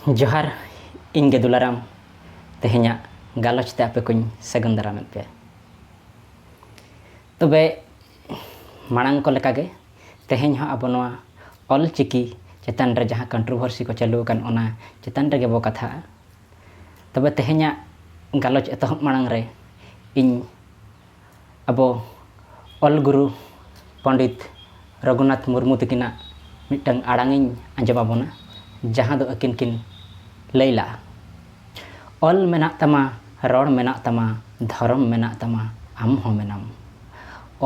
ᱡᱚᱦᱟᱨ ᱤᱧ ᱜᱮ ᱫᱩᱞᱟᱨᱟᱢ ᱛᱮᱦᱮᱧᱟᱜ ᱜᱟᱞᱚᱪ ᱛᱮ ᱟᱯᱮ ᱠᱚᱧ ᱥᱟᱹᱜᱩᱱ ᱫᱟᱨᱟᱢᱮᱫ ᱯᱮᱭᱟ ᱛᱚᱵᱮ ᱢᱟᱲᱟᱝ ᱠᱚ ᱞᱮᱠᱟᱜᱮ ᱛᱮᱦᱮᱧ ᱦᱚᱸ ᱟᱵᱚ ᱱᱚᱣᱟ ᱚᱞ ᱪᱤᱠᱤ ᱪᱮᱛᱟᱱ ᱨᱮ ᱡᱟᱦᱟᱸ ᱠᱚᱱᱴᱨᱳᱵᱷᱟᱨᱥᱤ ᱠᱚ ᱪᱟᱹᱞᱩ ᱟᱠᱟᱱ ᱚᱱᱟ ᱪᱮᱛᱟᱱ ᱨᱮᱜᱮ ᱵᱚ ᱠᱟᱛᱷᱟᱜᱼᱟ ᱛᱚᱵᱮ ᱛᱮᱦᱮᱧᱟᱜ ᱜᱟᱞᱚᱪ ᱮᱛᱚᱦᱚᱵ ᱢᱟᱲᱟᱝ ᱨᱮ ᱤᱧ ᱟᱵᱚ ᱚᱞ ᱜᱩᱨᱩ ᱯᱚᱱᱰᱤᱛ ᱨᱚᱜᱷᱩᱱᱟᱛᱷ ᱢᱩᱨᱢᱩ ᱛᱟᱹᱠᱤᱱᱟᱜ ᱢᱤᱫᱴᱟᱝ ᱟᱲᱟᱝ ᱤᱧ ᱟᱸᱡᱚᱢ ᱟᱵᱚᱱᱟ ᱡᱟᱦᱟᱸ ᱫᱚ ᱟᱹᱠᱤᱱ ᱠᱤᱱ ᱞᱟᱹᱭ ᱞᱟᱜᱼᱟ ᱚᱞ ᱢᱮᱱᱟᱜ ᱛᱟᱢᱟ ᱨᱚᱲ ᱢᱮᱱᱟᱜ ᱛᱟᱢᱟ ᱫᱷᱚᱨᱚᱢ ᱢᱮᱱᱟᱜ ᱛᱟᱢᱟ ᱟᱢ ᱦᱚᱸ ᱢᱮᱱᱟᱢ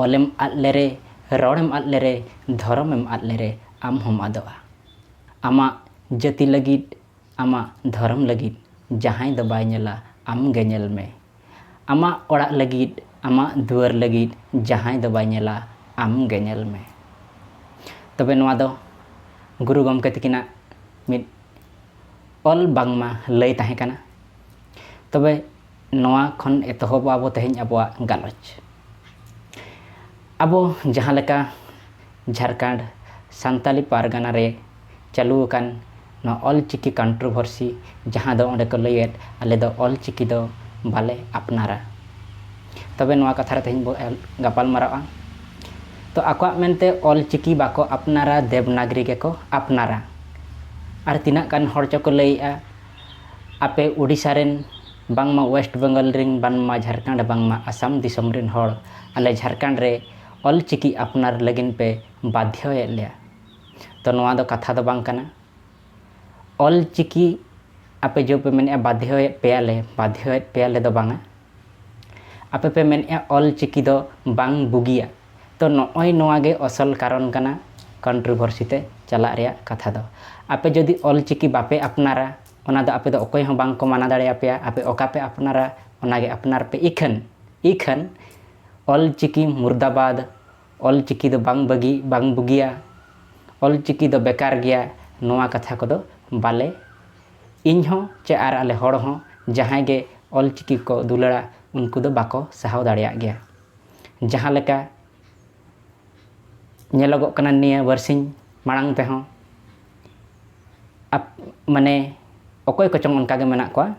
ᱚᱞᱮᱢ ᱟᱫ ᱞᱮᱨᱮ ᱨᱚᱲᱮᱢ ᱟᱫ ᱞᱮᱨᱮ ᱫᱷᱚᱨᱚᱢᱮᱢ ᱟᱫ ᱞᱮᱨᱮ ᱟᱢ ᱦᱚᱸᱢ ᱟᱫᱚᱜᱼᱟ ᱟᱢᱟᱜ ᱡᱟᱹᱛᱤ ᱞᱟᱹᱜᱤᱫ ᱟᱢᱟᱜ ᱫᱷᱚᱨᱚᱢ ᱞᱟᱹᱜᱤᱫ ᱡᱟᱦᱟᱸᱭ ᱫᱚ ᱵᱟᱭ ᱧᱮᱞᱟ ᱟᱢ ᱜᱮ ᱧᱮᱞ ᱢᱮ ᱟᱢᱟᱜ ᱚᱲᱟᱜ ᱞᱟᱹᱜᱤᱫ, ᱟᱢᱟᱜ ᱫᱩᱣᱟᱹᱨ ᱞᱟᱹᱜᱤᱫ ᱡᱟᱦᱟᱸᱭ ᱫᱚ ᱵᱟᱭ ᱧᱮᱞᱟ ᱟᱢ ᱜᱮ ᱧᱮᱞ ᱢᱮ᱾ ᱛᱚᱵᱮ ᱱᱚᱣᱟ ᱫᱚ ᱜᱩᱨᱩ ᱜᱚᱢᱠᱮ ᱛᱤᱠᱤᱱᱟᱜ ᱢᱤᱫ ᱚᱞ ᱵᱟᱝᱢᱟ ᱞᱟᱹᱭ ᱛᱟᱦᱮᱸ ᱠᱟᱱᱟ᱾ ᱛᱚᱵᱮ ᱱᱚᱣᱟ ᱠᱷᱚᱱ ᱮᱛᱚᱦᱚᱵᱚᱜᱼᱟ ᱵᱚ ᱛᱮᱦᱮᱧ ᱟᱵᱚᱣᱟᱜ ᱜᱟᱞᱚᱪ᱾ ᱟᱵᱚ ᱡᱟᱦᱟᱸ ᱞᱮᱠᱟ ᱡᱷᱟᱲᱠᱷᱚᱸᱰ ᱥᱟᱱᱛᱟᱲᱤ ᱯᱟᱨᱜᱟᱱᱟ ᱨᱮ ᱪᱟᱹᱞᱩ ᱟᱠᱟᱱ ᱱᱚᱣᱟ ᱚᱞ ᱪᱤᱠᱤ ᱠᱚᱱᱴᱨᱳᱵᱷᱟᱨᱥᱤ ᱡᱟᱦᱟᱸ ᱫᱚ ᱚᱸᱰᱮ ᱠᱚ ᱞᱟᱹᱭᱮᱫ ᱟᱞᱮ ᱫᱚ ᱚᱞ ᱪᱤᱠᱤ ᱫᱚ ᱵᱟᱞᱮ ᱟᱯᱱᱟᱨᱟ ᱛᱚᱵᱮ ᱱᱚᱣᱟ ᱠᱟᱛᱷᱟ ᱨᱮ ᱛᱮᱦᱮᱧ ᱵᱚ ᱜᱟᱯᱟᱞ ᱢᱟᱨᱟᱜᱼᱟ ᱛᱚ ᱟᱠᱚᱣᱟᱜ ᱢᱮᱱᱛᱮ ᱚᱞ ᱪᱤᱠᱤ ᱵᱟᱠᱚ ᱟᱯᱱᱟᱨᱟ ᱫᱮᱵᱽᱱᱟᱜᱽᱨᱤ ᱜᱮᱠᱚ ᱟᱯᱱᱟᱨᱟ ᱟᱨ ᱛᱤᱱᱟᱹᱜ ᱜᱟᱱ ᱦᱚᱲ ᱪᱚᱠᱚ ᱞᱟᱹᱭᱮᱫᱼᱟ ᱟᱯᱮ ᱳᱰᱤᱥᱟ ᱨᱮᱱ ᱵᱟᱝᱢᱟ ᱳᱭᱮᱥᱴ ᱵᱮᱝᱜᱚᱞ ᱨᱤᱱ ᱵᱟᱱᱢᱟ ᱡᱷᱟᱨᱠᱷᱟᱸᱰ ᱵᱟᱝᱢᱟ ᱟᱥᱟᱢ ᱫᱤᱥᱚᱢ ᱨᱤᱱ ᱦᱚᱲ ᱟᱞᱮ ᱡᱷᱟᱨᱠᱷᱟᱸᱰ ᱨᱮ ᱚᱞ ᱪᱤᱠᱤ ᱟᱯᱱᱟᱨ ᱞᱟᱹᱜᱤᱫ ᱯᱮ ᱵᱟᱫᱷᱭᱚ ᱮᱫ ᱞᱮᱭᱟ ᱛᱚ ᱱᱚᱣᱟ ᱫᱚ ᱠᱟᱛᱷᱟ ᱫᱚ ᱵᱟᱝ ᱠᱟᱱᱟ ᱚᱞ ᱪᱤᱠᱤ ᱟᱯᱮ ᱡᱮ ᱯᱮ ᱢᱮᱱᱮᱫᱼᱟ ᱵᱟᱫᱷᱭᱚ ᱮᱫ ᱯᱮᱭᱟ ᱞᱮ ᱵᱟᱫᱷᱭᱚ ᱮᱫ ᱯᱮᱭᱟ ᱞᱮ ᱫᱚ ᱵᱟᱝᱟ ᱟᱯᱮ ᱯᱮ ᱢᱮᱱᱮᱫᱼᱟ ᱚᱞ ᱪᱤᱠᱤ ᱫᱚ ᱵᱟᱝ ᱵᱩᱜᱤᱭᱟ ᱛᱚ ᱱᱚᱜᱼᱚᱭ ᱱᱚᱣᱟ ᱜᱮ ᱟᱥᱚᱞ ᱠᱟᱨᱚᱱ ᱠᱟᱱᱟ ᱠᱚᱱᱴᱨᱚᱵᱷᱚᱨᱥᱤ ᱛᱮ ᱪᱟᱞᱟᱜ ᱨᱮᱭᱟᱜ ᱠᱟᱛᱷᱟ ᱫᱚ ᱟᱯᱮ ᱡᱩᱫᱤ ᱚᱞ ᱪᱤᱠᱤ ᱵᱟᱯᱮ ᱟᱯᱱᱟᱨᱟ ᱚᱱᱟ ᱫᱚ ᱟᱯᱮ ᱫᱚ ᱚᱠᱚᱭ ᱦᱚᱸ ᱵᱟᱝ ᱠᱚ ᱢᱟᱱᱟ ᱫᱟᱲᱮ ᱟᱯᱮᱭᱟ ᱟᱯᱮ ᱚᱠᱟ ᱯᱮ ᱟᱯᱱᱟᱨᱟ ᱚᱱᱟ ᱜᱮ ᱟᱯᱱᱟᱨ ᱯᱮ ᱤᱠᱷᱟᱹᱱ ᱤᱠᱷᱟᱹᱱ ᱚᱞ ᱪᱤᱠᱤ ᱢᱩᱨᱫᱟᱵᱟᱫᱽ ᱚᱞ ᱪᱤᱠᱤ ᱫᱚ ᱵᱟᱝ ᱵᱟᱹᱜᱤ ᱵᱟᱝ ᱵᱩᱜᱤᱭᱟ ᱚᱞ ᱪᱤᱠᱤ ᱫᱚ ᱵᱮᱠᱟᱨ ᱜᱮᱭᱟ ᱱᱚᱣᱟ ᱠᱟᱛᱷᱟ ᱠᱚᱫᱚ ᱵᱟᱞᱮ ᱤᱧ ᱦᱚᱸ ᱪᱮ ᱟᱨ ᱟᱞᱮ ᱦᱚᱲ ᱦᱚᱸ ᱡᱟᱦᱟᱸᱭ ᱜᱮ ᱚᱞ ᱪᱤᱠᱤ ᱠᱚ ᱫᱩᱞᱟᱹᱲᱟ ᱩᱱᱠᱩ ᱫᱚ ᱵᱟᱠᱚ ᱥᱟᱦᱟᱣ ᱫᱟᱲᱮᱭᱟᱜ ᱜᱮᱭᱟ ᱡᱟᱦᱟᱸ ᱞᱮᱠᱟ ᱧᱮᱞᱚᱜᱚᱜ ᱠᱟᱱᱟ ᱱᱤᱭᱟᱹ ᱵᱟᱨᱥᱤᱧ ᱢᱟᱲᱟᱝ ᱛᱮᱦᱚᱸ ᱢᱟᱱᱮ ᱚᱠᱚᱭ ᱠᱚᱪᱚᱝ ᱚᱱᱠᱟᱜᱮ ᱢᱮᱱᱟᱜ ᱠᱚᱣᱟ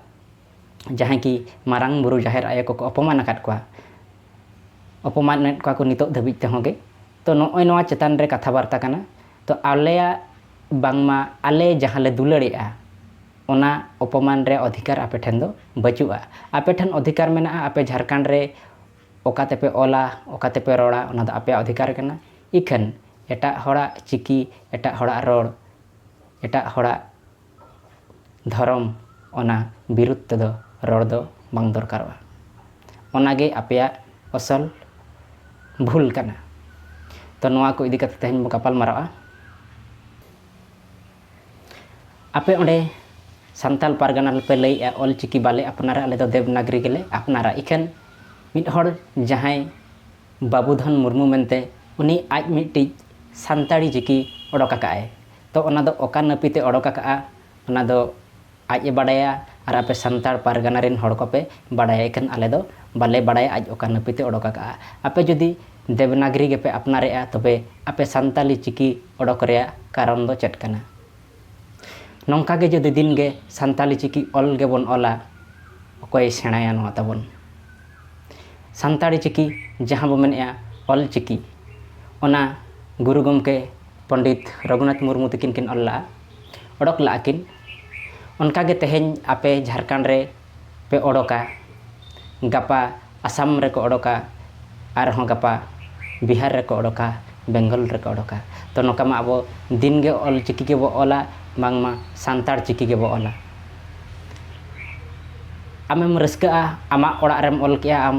ᱡᱟᱦᱟᱸᱭ ᱠᱤ ᱢᱟᱨᱟᱝ ᱵᱩᱨᱩ ᱡᱟᱦᱮᱨ ᱟᱭᱳ ᱠᱚᱠᱚ ᱚᱯᱚᱢᱟᱱ ᱟᱠᱟᱫ ᱠᱚᱣᱟ ᱚᱯᱚᱢᱟᱱᱮᱫ ᱠᱚᱣᱟ ᱠᱚ ᱱᱤᱛᱚᱜ ᱫᱷᱟᱹᱵᱤᱡ ᱛᱮᱦᱚᱸ ᱜᱮ ᱛᱚ ᱱᱚᱜᱼᱚᱭ ᱱᱚᱣᱟ ᱪᱮᱛᱟᱱ ᱨᱮ ᱠᱟᱛᱷᱟ ᱵᱟᱨᱛᱟ ᱠᱟᱱᱟ ᱛᱚ ᱟᱞᱮᱭᱟᱜ ᱵᱟᱝᱢᱟ ᱟᱞᱮ ᱡᱟᱦᱟᱸ ᱞᱮ ᱫᱩᱞᱟᱹᱲᱮᱜᱼᱟ ᱚᱱᱟ ᱚᱯᱚᱢᱟᱱ ᱨᱮ ᱚᱫᱷᱤᱠᱟᱨ ᱟᱯᱮ ᱴᱷᱮᱱ ᱫᱚ ᱵᱟᱹᱪᱩᱜᱼᱟ ᱟᱯᱮ ᱴᱷᱮᱱ ᱚᱫᱷᱤᱠᱟᱨ ᱢᱮᱱᱟᱜᱼᱟ ᱟᱯᱮ ᱡᱷᱟᱲᱠᱷᱚᱸᱰ ᱨᱮ ᱚᱠᱟ ᱛᱮᱯᱮ ᱚᱞᱟ, ᱚᱠᱟ ᱛᱮᱯᱮ ᱨᱚᱲᱟ ᱚᱱᱟ ᱫᱚ ᱟᱯᱮᱭᱟᱜ ᱚᱫᱷᱤᱠᱟᱨ ᱠᱟᱱᱟ᱾ ᱤᱠᱷᱟᱹᱱ ᱮᱴᱟᱜ ᱦᱚᱲᱟᱜ ᱪᱤᱠᱤ, ᱮᱴᱟᱜ ᱦᱚᱲᱟᱜ ᱨᱚᱲ, ᱮᱴᱟᱜ ᱦᱚᱲᱟᱜ ᱫᱷᱚᱨᱚᱢ ᱚᱱᱟ ᱵᱤᱨᱩᱫᱷ ᱛᱮᱫᱚ ᱨᱚᱲ ᱫᱚ ᱵᱟᱝ ᱫᱚᱨᱠᱟᱨᱚᱜᱼᱟ᱾ ᱚᱱᱟ ᱜᱮ ᱟᱯᱮᱭᱟᱜ ᱚᱥᱚᱞ ᱵᱷᱩᱞ ᱠᱟᱱᱟ᱾ ᱛᱚ ᱱᱚᱣᱟ ᱠᱚ ᱤᱫᱤ ᱠᱟᱛᱮ ᱛᱮᱦᱮᱧ ᱵᱚ ᱜᱟᱯᱟᱞ ᱢᱟᱨᱟᱣᱜᱼᱟ᱾ ᱟᱯᱮ ᱚᱸᱰᱮ ᱥᱟᱱᱛᱟᱞ ᱯᱟᱨᱜᱟᱱᱟ ᱨᱮᱯᱮ ᱞᱟᱹᱭᱮᱜᱼᱟ ᱚᱞ ᱪᱤᱠᱤ ᱵᱟᱞᱮ ᱟᱯᱱᱟᱨᱟ ᱟᱞᱮ ᱫᱚ ᱫᱮᱵᱽᱱᱟᱜᱽᱨᱤ ᱜᱮᱞᱮ ᱟᱯᱱᱟᱨᱟ ᱤᱠᱷᱟᱹᱱ ᱢᱤᱫ ᱦᱚᱲ ᱡᱟᱦᱟᱸᱭ ᱵᱟᱹᱵᱩ ᱫᱷᱚᱱ ᱢᱩᱨᱢᱩ ᱢᱮᱱᱛᱮ ᱩᱱᱤ ᱟᱡ ᱢᱤᱫᱴᱤᱡ ᱥᱟᱱᱛᱟᱲᱤ ᱪᱤᱠᱤ ᱚᱰᱚᱠ ᱟᱠᱟᱫ ᱟᱭ ᱛᱚ ᱚᱱᱟ ᱫᱚ ᱚᱠᱟ ᱱᱟᱹᱯᱤᱛᱮ ᱚᱰᱚᱠ ᱟᱠᱟᱫᱼᱟ ᱚᱱᱟ ᱫᱚ ᱟᱡ ᱮ ᱵᱟᱰᱟᱭᱟ ᱟᱨ ᱟᱯᱮ ᱥᱟᱱᱛᱟᱲ ᱯᱟᱨᱜᱟᱱᱟ ᱨᱤᱱ ᱦᱚᱲ ᱠᱚᱯᱮ ᱵᱟᱰᱟᱭᱟ ᱤᱠᱷᱟᱹᱱ ᱟᱞᱮ ᱫᱚ ᱵᱟᱞᱮ ᱵᱟᱰᱟᱭᱟ ᱟᱡ ᱚᱠᱟ ᱱᱟᱹᱯᱤᱛᱮ ᱚᱰᱚᱠ ᱟᱠᱟᱫᱼᱟ ᱟᱯᱮ ᱡᱩᱫᱤ ᱫᱮᱵᱽᱱᱟᱜᱽᱨᱤ ᱜᱮᱯᱮ ᱟᱯᱱᱟᱨᱮᱫᱼᱟ ᱛᱚᱵᱮ ᱟᱯᱮ ᱥᱟᱱᱛᱟᱞᱤ ᱪᱤᱠᱤ ᱚᱰᱚᱠ ᱨᱮᱭᱟᱜ ᱠᱟᱨᱚᱱ ᱫᱚ ᱪᱮᱫ ᱠᱟᱱᱟ ᱱᱚᱝᱠᱟ ᱜᱮ ᱡᱩᱫᱤ ᱫᱤᱱ ᱜᱮ ᱥᱟᱱᱛᱟᱞᱤ ᱪᱤᱠᱤ ᱚᱞ ᱜᱮᱵᱚᱱ ᱚᱞᱟ ᱚᱠᱚᱭᱮ ᱥᱮᱬᱟᱭᱟ ᱱᱚᱣᱟ ᱛᱟᱵᱚᱱ ᱥᱟᱱᱛᱟᱲᱤ ᱪᱤᱠᱤ ᱡᱟᱦᱟᱸ ᱵᱚᱱ ᱢᱮᱱᱮᱫᱼᱟ ᱚᱞ ᱪᱤᱠᱤ ᱚᱱᱟ ᱜᱩᱨᱩ ᱜᱚᱢᱠᱮ ᱯᱚᱱᱰᱤᱛ ᱨᱚᱜᱷᱩᱱᱟᱛᱷ ᱢᱩᱨᱢᱩ ᱛᱟᱹᱠᱤᱱ ᱠᱤᱱ ᱚᱞ ᱞᱟᱜᱼᱟ ᱚᱰᱚᱠ ᱞᱟᱜᱼᱟ ᱠᱤᱱ ᱚᱱᱠᱟ ᱜᱮ ᱛᱮᱦᱮᱧ ᱟᱯᱮ ᱡᱷᱟᱲᱠᱷᱚᱸᱰ ᱨᱮ ᱯᱮ ᱚᱰᱚᱠᱟ ᱜᱟᱯᱟ ᱟᱥᱟᱢ ᱨᱮᱠᱚ ᱚᱰᱚᱠᱟ ᱟᱨᱦᱚᱸ ᱜᱟᱯᱟ ᱵᱤᱦᱟᱨ ᱨᱮᱠᱚ ᱚᱰᱚᱠᱟ ᱵᱮᱝᱜᱚᱞ ᱨᱮᱠᱚ ᱚᱰᱚᱠᱟ ᱛᱳ ᱱᱚᱝᱠᱟ ᱢᱟ ᱟᱵᱚ ᱫᱤᱱ ᱜᱮ ᱚᱞᱪᱤᱠᱤ ᱜᱮᱵᱚᱱ ᱚᱞᱟ ᱵᱟᱝᱢᱟ ᱥᱟᱱᱛᱟᱲ ᱪᱤᱠᱤ ᱜᱮᱵᱚᱱ ᱚᱞᱟ ᱟᱢᱮᱢ ᱨᱟᱹᱥᱠᱟᱹᱜᱼᱟ ᱟᱢᱟᱜ ᱚᱲᱟᱜ ᱨᱮᱢ ᱚᱞ ᱠᱮᱜᱼᱟ ᱟᱢ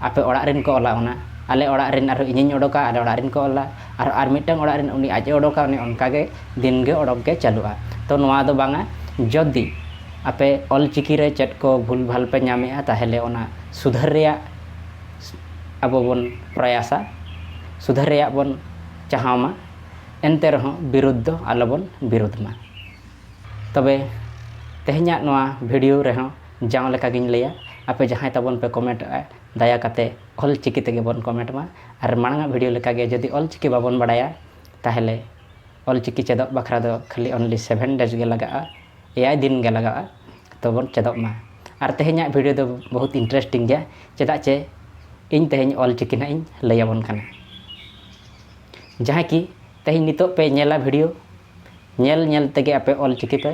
ᱟᱯᱮ ᱚᱲᱟᱜ ᱨᱮᱱ ᱠᱚ ᱚᱞᱟ ᱚᱱᱟ ᱟᱞᱮ ᱚᱲᱟᱜ ᱨᱮᱱ ᱟᱨᱦᱚᱸ ᱤᱧᱤᱧ ᱚᱰᱚᱠᱟ ᱟᱞᱮ ᱚᱲᱟᱜ ᱨᱮᱱ ᱠᱚ ᱚᱞᱟ ᱟᱨ ᱟᱨ ᱢᱤᱫᱴᱟᱝ ᱚᱲᱟᱜ ᱨᱮᱱ ᱩᱱᱤ ᱟᱡ ᱮ ᱚᱰᱚᱠᱟ ᱚᱱᱮ ᱚᱱᱠᱟ ᱜᱮ ᱫᱤᱱ ᱜᱮ ᱚᱰᱚᱠ ᱜᱮ ᱪᱟᱹᱞᱩᱜᱼᱟ ᱛᱳ ᱱᱚᱣᱟ ᱫᱚ ᱵᱟᱝᱟ ᱡᱩᱫᱤ ᱟᱯᱮ ᱚᱞ ᱪᱤᱠᱤ ᱨᱮ ᱪᱮᱫ ᱠᱚ ᱵᱷᱩᱞ ᱵᱷᱟᱞ ᱯᱮ ᱧᱟᱢᱮᱜᱼᱟ ᱛᱟᱦᱚᱞᱮ ᱚᱱᱟ ᱥᱩᱫᱷᱟᱹᱨ ᱨᱮᱭᱟᱜ ᱟᱵᱚ ᱵᱚᱱ ᱯᱨᱚᱭᱟᱥᱟ ᱥᱩᱫᱷᱟᱹᱨ ᱨᱮᱭᱟᱜ ᱵᱚᱱ ᱪᱟᱦᱟᱣ ᱢᱟ ᱮᱱᱛᱮ ᱨᱮᱦᱚᱸ ᱵᱤᱨᱩᱫᱷ ᱫᱚ ᱟᱞᱚ ᱵᱚᱱ ᱵᱤᱨᱩᱫᱷ ᱢᱟ ᱛᱚᱵᱮ ᱛᱮᱦᱮᱧᱟᱜ ᱱᱚᱣᱟ ᱵᱷᱤᱰᱤᱭᱳ ᱨᱮᱦᱚᱸ ᱡᱟᱣ ᱞᱮᱠᱟ ᱜᱤᱧ ᱞᱟᱹᱭᱟ ᱟᱯᱮ ᱡᱟᱦᱟᱸᱭ ᱛᱟᱵᱚᱱ ᱯᱮ ᱠᱚᱢᱮᱱᱴ ᱮᱫᱼᱟ ᱫᱟᱭᱟ ᱠᱟᱛᱮ ᱚᱞ ᱪᱤᱠᱤ ᱛᱮᱜᱮ ᱵᱚᱱ ᱠᱚᱢᱮᱱᱴ ᱢᱟ ᱟᱨ ᱢᱟᱲᱟᱝ ᱟᱜ ᱵᱷᱤᱰᱤᱭᱳ ᱞᱮᱠᱟ ᱜᱮ ᱡᱩᱫᱤ ᱚᱞ ᱪᱤᱠᱤ ᱵᱟᱵᱚᱱ ᱵᱟᱲᱟᱭᱟ ᱛᱟᱦᱚᱞᱮ ᱚᱞ ᱪᱤᱠᱤ ᱪᱮᱫᱚᱜ ᱵᱟᱠᱷᱨᱟ ᱫᱚ ᱠᱷᱟᱹᱞᱤ ᱚᱱᱞᱤ ᱥᱮᱵᱷᱮᱱ ᱰᱮᱡᱽ ᱜᱮ ᱞᱟᱜᱟᱜᱼᱟ ᱮᱭᱟᱭ ᱫᱤᱱ ᱜᱮ ᱞᱟᱜᱟᱜᱼᱟ ᱛᱚ ᱵᱚᱱ ᱪᱮᱫᱚᱜ ᱢᱟ ᱟᱨ ᱛᱮᱦᱮᱧᱟᱜ ᱵᱷᱤᱰᱤᱭᱳ ᱫᱚ ᱵᱚᱦᱩᱛ ᱤᱱᱴᱟᱨᱮᱥᱴᱤᱝ ᱜᱮᱭᱟ ᱪᱮᱫᱟᱜ ᱪᱮ ᱤᱧ ᱛᱮᱦᱮᱧ ᱚᱞ ᱪᱤᱠᱤ ᱱᱟᱦᱟᱜ ᱤᱧ ᱞᱟᱹᱭ ᱟᱵᱚᱱ ᱠᱟᱱᱟ ᱡᱟᱦᱟᱸᱭ ᱠᱤ ᱛᱮᱦᱮᱧ ᱱᱤᱛᱚᱜ ᱯᱮ ᱧᱮᱞᱟ ᱵᱷᱤᱰᱤᱭᱳ ᱧᱮᱞ ᱧᱮᱞ ᱛᱮᱜᱮ ᱟᱯᱮ ᱚᱞ ᱪᱤᱠᱤ ᱯᱮ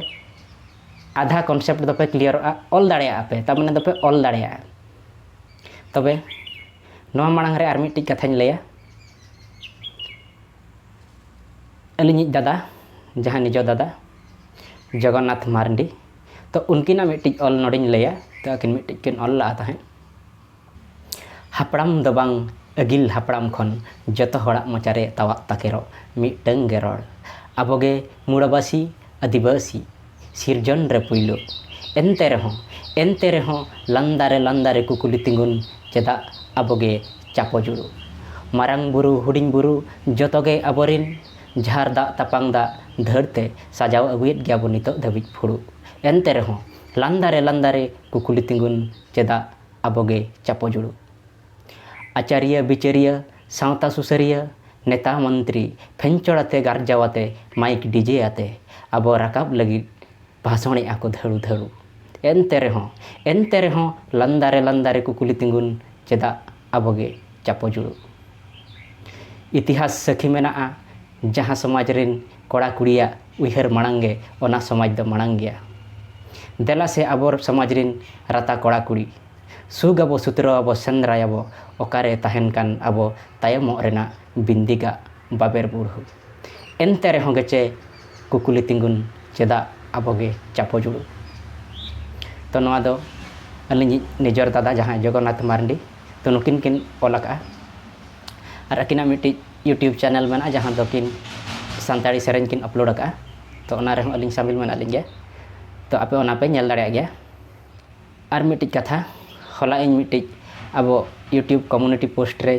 ᱟᱫᱷᱟ ᱠᱚᱱᱥᱮᱯᱴ ᱫᱚᱯᱮ ᱠᱞᱤᱭᱟᱨᱚᱜᱼᱟ ᱚᱞ ᱫᱟᱲᱮᱭᱟᱜᱼᱟ ᱯᱮ ᱛᱟᱨ ᱢᱟᱱᱮ ᱫᱚᱯᱮ ᱚᱞ ᱫᱟᱲᱮᱭᱟᱜᱼᱟ ᱛᱚᱵᱮ ᱱᱚᱣᱟ ᱢᱟᱲᱟᱝ ᱨᱮ ᱟᱨ ᱢᱤᱫᱴᱤᱡ ᱠᱟᱛᱷᱟᱧ ᱞᱟᱹᱭᱟ ᱟᱹᱞᱤᱧᱤᱡ ᱫᱟᱫᱟ ᱡᱟᱦᱟᱸ ᱱᱤᱡᱚ ᱫᱟᱫᱟ ᱡᱚᱜᱚᱱᱱᱟᱛᱷ ᱢᱟᱨᱰᱤ ᱛᱚ ᱩᱱᱠᱤᱱᱟᱜ ᱢᱤᱫᱴᱤᱡ ᱚᱞ ᱱᱚᱰᱮᱧ ᱞᱟᱹᱭᱟ ᱛᱚ ᱟᱹᱠᱤᱱ ᱢᱤᱫᱴᱤᱡ ᱠᱤᱱ ᱚᱞ ᱞᱟᱜᱼᱟ ᱛᱟᱦᱮᱸᱫ ᱦᱟᱯᱲᱟᱢ ᱫᱚ ᱵᱟᱝ ᱟᱹᱜᱤᱞ ᱦᱟᱯᱲᱟᱢ ᱠᱷᱚᱱ ᱡᱚᱛᱚ ᱦᱚᱲᱟᱜ ᱢᱚᱪᱟ ᱨᱮ ᱛᱟᱣᱟᱜ ᱛᱟᱠᱮᱨᱚᱜ ᱢᱤᱫᱴᱟᱹᱝ ᱜᱮ ᱨᱚᱲ, ᱟᱵᱚ ᱜᱮ ᱢᱩᱬᱟᱹᱵᱟᱹᱥᱤ, ᱟᱹᱫᱤᱵᱟᱹᱥᱤ᱾ ᱥᱤᱨᱡᱚᱱ ᱨᱮ ᱯᱩᱭᱞᱩ᱾ ᱮᱱᱛᱮ ᱨᱮᱦᱚᱸ, ᱮᱱᱛᱮ ᱨᱮᱦᱚᱸ ᱞᱟᱱᱫᱟ ᱨᱮ ᱞᱟᱱᱫᱟ ᱨᱮ ᱠᱩᱠᱞᱤ ᱛᱤᱸᱜᱩᱱ ᱪᱮᱫᱟᱜ ᱟᱵᱚ ᱜᱮ ᱪᱟᱯᱚ ᱡᱩᱲᱩ? ᱢᱟᱨᱟᱝ ᱵᱩᱨᱩ ᱦᱩᱰᱤᱧ ᱵᱩᱨᱩ ᱡᱚᱛᱚ ᱜᱮ ᱟᱵᱚ ᱨᱤᱱ᱾ ᱡᱷᱟᱨ ᱫᱟᱜ ᱛᱟᱯᱟᱝ ᱫᱟᱜ ᱫᱷᱟᱹᱲ ᱛᱮ ᱥᱟᱡᱟᱣ ᱟᱹᱜᱩᱭᱮᱫ ᱜᱮᱭᱟ ᱵᱚ ᱱᱤᱛᱚᱜ ᱫᱷᱟᱹᱵᱤᱡ ᱯᱷᱩᱲᱩᱜ᱾ ᱮᱱᱛᱮ ᱨᱮᱦᱚᱸ ᱞᱟᱱᱫᱟ ᱨᱮ ᱞᱟᱱᱫᱟ ᱨᱮ ᱠᱩᱠᱞᱤ ᱛᱤᱸᱜᱩᱱ ᱪᱮᱫᱟᱜ ᱟᱵᱚᱜᱮ ᱪᱟᱯᱚ ᱡᱩᱲᱩ᱾ ᱟᱪᱟᱨᱤᱭᱟᱹ ᱵᱤᱪᱟᱹᱨᱤᱭᱟᱹ ᱥᱟᱶᱛᱟ ᱥᱩᱥᱟᱹᱨᱤᱭᱟᱹ ᱱᱮᱛᱟ ᱢᱚᱱᱛᱨᱤ ᱯᱷᱮᱧᱪᱚᱲ ᱟᱛᱮ ᱜᱟᱨᱡᱟᱣ ᱟᱛᱮ ᱢᱟᱭᱤᱠ ᱰᱤᱡᱮ ᱟᱛᱮ ᱟᱵᱚ ᱨᱟᱠᱟᱵ ᱞᱟᱹᱜᱤᱫ ᱵᱷᱟᱥᱚᱬᱮᱜᱼᱟ ᱠᱚ ᱫᱷᱟᱹᱲᱩ ᱫᱷᱟᱹᱲᱩ᱾ ᱮᱱᱛᱮ ᱨᱮᱦᱚᱸ ᱮᱱᱛᱮ ᱨᱮᱦᱚᱸ ᱞᱟᱱᱫᱟ ᱨᱮ ᱞᱟᱱᱫᱟ ᱨᱮ ᱠᱩᱠᱞᱤ ᱛᱤᱸᱜᱩᱱ ᱪᱮᱫᱟᱜ ᱟᱵᱚᱜᱮ ᱪᱟᱯᱚ ᱡᱩᱲᱩ᱾ ᱤᱛᱤᱦᱟᱥ ᱥᱟᱹᱠᱷᱤ ᱢᱮᱱᱟᱜᱼᱟ ᱡᱟᱦᱟᱸ ᱥᱚᱢᱟᱡᱽ ᱨᱤᱱ ᱠᱚᱲᱟ ᱠᱩᱲᱤᱭᱟᱜ᱾ ᱩᱭᱦᱟᱹᱨ ᱢᱟᱲᱟᱝ ᱜᱮ ᱚᱱᱟ ᱥᱚᱢᱟᱡᱽ ᱫᱚ ᱢᱟᱲᱟᱝ ᱜᱮᱭᱟ᱾ ᱫᱮᱞᱟ ᱥᱮ ᱟᱵᱚ ᱥᱚᱢᱟᱡᱽ ᱨᱤᱱ ᱨᱟᱛᱟ ᱠᱚᱲᱟ ᱠᱩᱲᱤ᱾ ᱥᱩᱠ ᱟᱵᱚ ᱥᱩᱛᱨᱟᱹᱣ ᱟᱵᱚ ᱥᱮᱸᱫᱽᱨᱟᱭ ᱟᱵᱚ ᱚᱠᱟᱨᱮ ᱛᱟᱦᱮᱱ ᱠᱟᱱ ᱟᱵᱚ ᱛᱟᱭᱚᱢᱚᱜ ᱨᱮᱱᱟᱜ ᱵᱤᱱᱫᱤ ᱜᱟᱜ ᱵᱟᱵᱮᱨ ᱵᱩᱲᱦᱩ᱾ ᱮᱱᱛᱮ ᱨᱮᱦᱚᱸ ᱜᱮᱪᱮ ᱠᱩᱠᱞᱤ ᱛᱤᱸᱜᱩᱱ ᱪᱮᱫᱟᱜ ᱟᱵᱚ ᱜᱮ ᱪᱟᱯᱚ ᱡᱩᱲᱩ᱾ ᱛᱚ ᱱᱚᱣᱟ ᱫᱚ ᱟᱹᱞᱤᱧᱤᱡ ᱱᱤᱡᱚᱨ ᱫᱟᱫᱟ ᱡᱟᱦᱟᱸᱭ ᱡᱚᱜᱚᱱᱱᱟᱛᱷ ᱢᱟᱨᱱᱰᱤ ᱛᱚ ᱱᱩᱠᱤᱱ ᱠᱤᱱ ᱚᱞ ᱟᱠᱟᱜᱼᱟ᱾ ᱟᱨ ᱟᱹᱠᱤᱱᱟᱜ ᱢᱤᱫᱴᱤᱡ ᱤᱭᱩᱴᱩᱵᱽ ᱪᱮᱱᱮᱞ ᱢᱮᱱᱟᱜᱼᱟ ᱡᱟᱦᱟᱸ ᱫᱚ ᱠᱤᱱ ᱥᱟᱱᱛᱟᱲᱤ ᱥᱮᱨᱮᱧ ᱠᱤᱱ ᱟᱯᱞᱳᱰ ᱟᱠᱟᱫᱼᱟ ᱛᱚ ᱚᱱᱟ ᱨᱮᱦᱚᱸ ᱟᱹᱞᱤᱧ ᱥᱟᱹᱢᱤᱞ ᱢᱮᱱᱟᱜ ᱞᱤᱧ ᱜᱮᱭᱟ ᱛᱚ ᱟᱯᱮ ᱚᱱᱟ ᱯᱮ ᱧᱮᱞ ᱫᱟᱲᱮᱭᱟᱜ ᱜᱮᱭᱟ ᱟᱨ ᱢᱤᱫᱴᱤᱡ ᱠᱟᱛᱷᱟ ᱦᱚᱞᱟ ᱤᱧ ᱢᱤᱫᱴᱤᱡ ᱟᱵᱚ ᱤᱭᱩᱴᱩᱵᱽ ᱠᱚᱢᱤᱭᱩᱱᱤᱴᱤ ᱯᱳᱥᱴ ᱨᱮ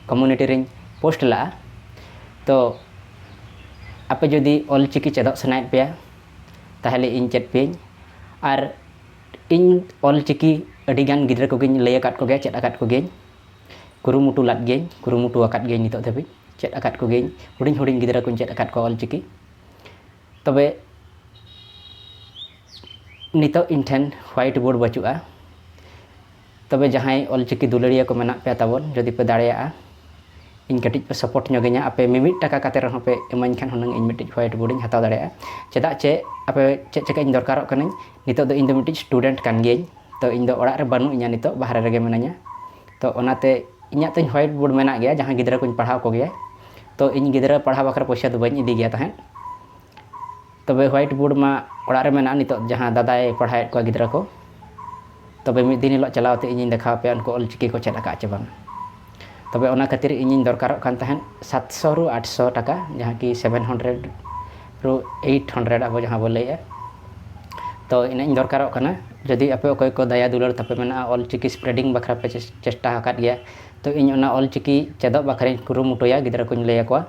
ᱠᱚᱢᱤᱭᱩᱱᱤᱴᱤ ᱨᱮᱧ ᱯᱳᱥᱴ ᱞᱟᱜᱼᱟ ᱛᱚ ᱟᱯᱮ ᱡᱩᱫᱤ ᱚᱞ ᱪᱤᱠᱤ ᱪᱮᱫᱚᱜ ᱥᱟᱱᱟᱭᱮᱫ ᱯᱮᱭᱟ ᱛᱟᱦᱚᱞᱮ ᱤᱧ ᱪᱮᱫ ᱯᱮᱭᱟᱹᱧ ᱟᱨ ᱤᱧ ᱚᱞ ᱪᱤᱠᱤ ᱟᱹᱰᱤᱜᱟᱱ ᱜᱤᱫᱽᱨᱟᱹ ᱠᱚᱜᱮᱧ ᱞᱟᱹᱭ ᱟᱠᱟᱫ ᱠᱚᱜᱮᱭᱟ ᱪᱮᱫ ᱟᱠᱟᱫ ᱠᱚᱜᱮᱭᱟᱹᱧ ᱠᱩᱨᱩᱢᱩᱴᱩ ᱞᱟᱫ ᱜᱤᱭᱟᱹᱧ ᱠᱩᱨᱩᱢᱩᱴᱩ ᱟᱠᱟᱫ ᱜᱤᱭᱟᱹᱧ ᱱᱤᱛᱚᱜ ᱫᱷᱟᱹᱵᱤᱡ ᱪᱮᱫ ᱟᱠᱟᱫ ᱠᱚᱜᱮᱭᱟᱹᱧ ᱦᱩᱰᱤᱧ ᱦᱩᱰᱤᱧ ᱜᱤᱫᱽᱨᱟᱹ ᱠᱚᱧ ᱪᱮᱫ ᱟᱠᱟᱫ ᱠᱚᱣᱟ ᱚᱞ ᱪᱤᱠᱤ ᱛᱚᱵᱮ ᱱᱤᱛᱚᱜ ᱤᱧ ᱴᱷᱮᱱ ᱦᱳᱣᱟᱭᱤᱴ ᱵᱳᱨᱰ ᱵᱟᱹᱪᱩᱜᱼᱟ ᱛᱚᱵᱮ ᱡᱟᱦᱟᱸᱭ ᱚᱞ ᱪᱤᱠᱤ ᱫᱩᱞᱟᱹᱲᱤᱭᱟᱹ ᱠᱚ ᱢᱮᱱᱟᱜ ᱯᱮᱭᱟ ᱛᱟᱵᱚᱱ ᱡᱩᱫᱤ ᱯᱮ ᱫᱟᱲᱮᱭᱟᱜᱼᱟ ᱤᱧ ᱠᱟᱹᱴᱤᱡ ᱯᱮ ᱥᱟᱯᱳᱨᱴ ᱧᱚᱜᱤᱧᱟ ᱟᱯᱮ ᱢᱤᱢᱤᱫ ᱴᱟᱠᱟ ᱠᱟᱛᱮᱫ ᱨᱮᱦᱚᱸ ᱯᱮ ᱤᱢᱟᱹᱧ ᱠᱷᱟᱱ ᱦᱩᱱᱟᱹᱝ ᱤᱧ ᱢᱤᱫᱴᱤᱡ ᱦᱳᱣᱟᱭᱤᱴ ᱵᱳᱨᱰ ᱤᱧ ᱦᱟᱛᱟᱣ ᱫᱟᱲᱮᱭᱟᱜᱼᱟ ᱪᱮᱫᱟᱜ ᱪᱮ ᱟᱯᱮ ᱪᱮᱫ ᱪᱤᱠᱟᱹᱧ ᱫᱚᱨᱠᱟᱨᱚᱜ ᱠᱟᱹᱱᱟᱹᱧ ᱱᱤᱛᱚᱜ ᱫᱚ ᱤᱧ ᱫᱚ ᱢᱤᱫᱴᱤᱡ ᱥᱴᱩᱰᱮᱱᱴ ᱠᱟᱱ ᱜᱤᱭᱟᱹᱧ ᱛᱚ ᱤᱧ ᱫᱚ ᱚᱲᱟᱜ ᱨᱮ ᱵᱟᱹᱱᱩᱜ ᱤᱧᱟ ᱱᱤᱛᱚᱜ ᱵᱟᱦᱨᱮ ᱨᱮᱜᱮ ᱢᱤᱱᱟᱹᱧᱟ ᱛᱚ ᱚᱱᱟᱛᱮ ᱤᱧᱟᱹᱜ ᱛᱤᱧ ᱦᱳᱣᱟᱭᱤᱴ ᱵᱳᱨᱰ ᱢᱮᱱᱟᱜ ᱜᱮᱭᱟ ᱡᱟᱦᱟᱸ ᱜᱤᱫᱽᱨᱟᱹ ᱠᱚᱧ ᱯᱟᱲᱦᱟᱣ ᱠᱚᱜᱮᱭᱟ ᱛᱚ ᱤᱧ ᱜᱤᱫᱽᱨᱟᱹ ᱯᱟᱲᱦᱟᱣ ᱵᱟᱠᱷᱨᱟ ᱯᱚᱭᱥᱟ ᱫᱚ ᱵᱟᱹᱧ ᱤᱫᱤ ᱜᱮᱭᱟ ᱛᱟᱦᱮᱸᱫ ᱛᱚᱵᱮ ᱦᱳᱣᱟᱭᱤᱴ ᱵᱳᱨᱰ ᱢᱟ ᱚᱲᱟᱜ ᱨᱮ ᱢᱮᱱᱟᱜᱼᱟ ᱱᱤᱛᱚᱜ ᱡᱟᱦᱟᱸ ᱫᱟᱫᱟᱭ ᱯᱟᱲᱦᱟᱣᱮᱫ ᱠᱚᱣᱟ ᱜᱤᱫᱽᱨᱟᱹ ᱠᱚ ᱛᱚᱵᱮ ᱢᱤᱫ ᱫᱤᱱ ᱦᱤᱞᱳᱜ ᱪᱟᱞᱟᱣ ᱠᱟᱛᱮᱫ ᱤᱧᱤᱧ ᱫᱮᱠᱷᱟᱣ ᱟᱯᱮᱭᱟ ᱩᱱᱠᱩ ᱚᱞ ᱪᱤᱠᱤ ᱠᱚ ᱪᱮᱫ ᱟᱠᱟᱫᱼᱟ ᱪᱮ ᱵᱟᱝ ᱛᱚᱵᱮ ᱚᱱᱟ ᱠᱷᱟᱹᱛᱤᱨ ᱤᱧᱤᱧ ᱫᱚᱨᱠᱟᱨᱚᱜ ᱠᱟᱱ ᱛᱟᱦᱮᱸᱫ ᱥᱟᱛᱥᱚ ᱨᱩ ᱟᱴᱥᱚ ᱴᱟᱠᱟ ᱡᱟᱦᱟᱸ ᱠᱤ ᱥᱮᱵᱷᱮᱱ ᱦᱚᱱᱰᱨᱮᱰ ᱨᱩ ᱮᱭᱤᱴ ᱦᱚᱱᱰᱨᱮᱰ ᱟᱵᱚ ᱡᱟᱦᱟᱸ ᱵᱚᱱ ᱞᱟᱹᱭᱮᱫᱼᱟ ᱛᱚ ᱤᱱᱟᱹᱜ ᱤᱧ ᱫᱚᱨᱠᱟᱨᱚᱜ ᱠᱟᱱᱟ ᱡᱩᱫᱤ ᱟᱯᱮ ᱚᱠᱚᱭ ᱠᱚ ᱫᱟᱭᱟ ᱫᱩᱞᱟᱹᱲ ᱛᱟᱯᱮ ᱢᱮᱱᱟᱜᱼᱟ ᱚᱞ ᱪᱤᱠᱤ ᱥᱯᱨᱮᱰᱤᱝ ᱵᱟᱠᱷᱨᱟ ᱯᱮ ᱪᱮᱥᱴᱟ ᱟᱠᱟᱫ ᱜᱮᱭᱟ ᱛᱚ ᱤᱧ ᱚᱱᱟ ᱚᱞ ᱪᱤᱠᱤ ᱪᱮᱫᱚᱜ ᱵᱟᱠᱷᱨᱟᱧ ᱠᱩᱨᱩᱢᱩᱴᱩᱭᱟ ᱜᱤᱫᱽᱨᱟᱹ ᱠᱚᱧ ᱞᱟᱹᱭ ᱟᱠᱚᱣᱟ